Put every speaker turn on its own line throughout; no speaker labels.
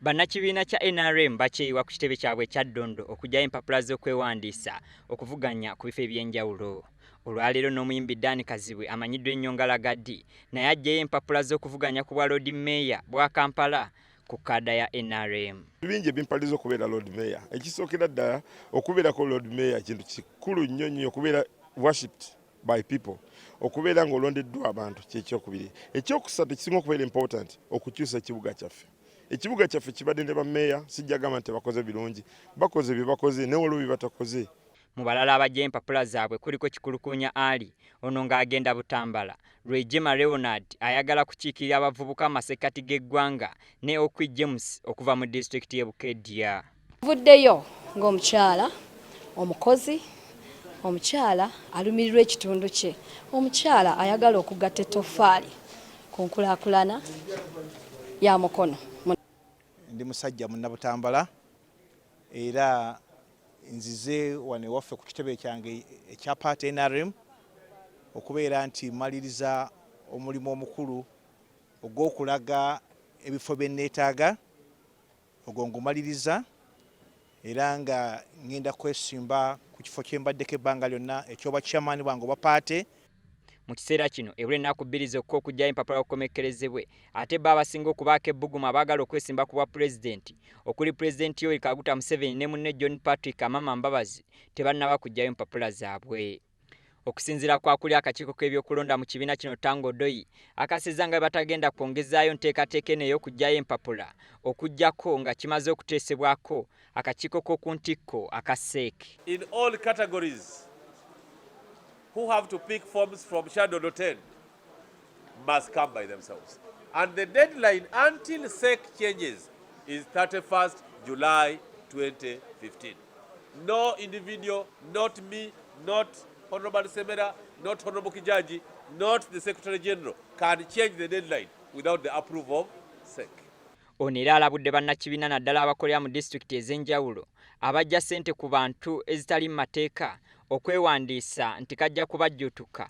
Bannakibiina kya nrm bakyeyiwa ku kitebe kyabwe ekya Ddondo okugyayo empapula z'okwewandiisa okuvuganya ku bifo eby'enjawulo. Olwaleero n'omuyimbi Dan Kazibwe amanyiddwa ennyo nga Lagaddi naye aggyeyo empapula z'okuvuganya ku bwa Loodi Meeya bwa Kampala ku kaada ya nrm. Bingi ebimpaliza
okubeera Loodi Meeya. Ekisookera ddala okubeerako Loodi Meeya kintu kikulu nnyo nnyo okubeera worshipped. by people okubeera nga olondeddwa abantu kyekyokubiri ekyokusatu ekisinga okubeera important okukyusa ekibuga kyaffe ekibuga kyaffe kibadde ne bameeya sijjagamba nti bakoze birungi bakoze byebakoze naye waliwo byebatakoze mu balala abajja
empapula zaabwe kuliko kikulukunya ali ono ng'agenda butambala lwejema leonard ayagala kukiikirira abavubuka amasekkati g'eggwanga ne okwi james okuva mu disitulikiti y'e bukedya Tuvuddeyo
ng'omukyala omukozi omukyala alumirirwa ekitundu kye omukyala ayagala okugatta ettoffaali ku nkulaakulana ya mukono ndi
musajja munnabutambala era nzize wano ewaffe ku kitebe kyange ekya paati nrm okubeera nti maliriza omulimu omukulu ogw'okulaga ebifo bye nneetaaga ogwo ngumaliriza era nga ngenda kwesimba ku kifo kyembaddeko ebbanga lyonna ekyoba chairman bwange oba paate mu kiseera
kino ebula ennaku bbiri zokka okugyayo empapula okukomekkerezebwe ate bo abasinga okubaako ebbugumu abaagala okwesimba ku bwa pulezidenti okuli pulezidenti yoweri kaguta museveni ne munne john patrick amama mbabazi tebannaba kugyayo mpapula zaabwe Okusinzira kwa kuli akakiiko k'ebyokulonda mu kibiina kino Tanga Odoi akasizza nga bwebatagenda kwongezaayo nteekateeka eno ey'okuggyayo empapula okuggyako nga kimaze okuteesebwako akakiiko k'oku ntikko aka CEC. In all
categories who have to pick forms from shadow 10. must come by themselves and the deadline until sec changes is 31st July 2015 no individual not me not honorable Semera not honorable Kijaji not the secretary general can change the deadline without the approval of sec ono era
alabudde bannakibiina naddala abakolera mu disitulikiti ez'enjawulo abajja ssente ku bantu ezitali mu mateeka okwewandiisa nti kajja kubajjuutuka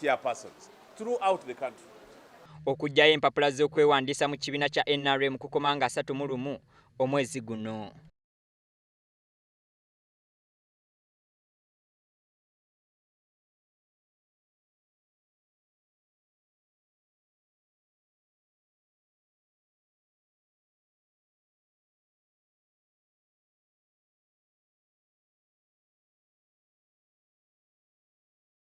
chairpersons throughout the country. Okujjayo
empapula z'okwewandiisa mu kibiina kya NRM kukoma nga asatu mu lumu omwezi guno.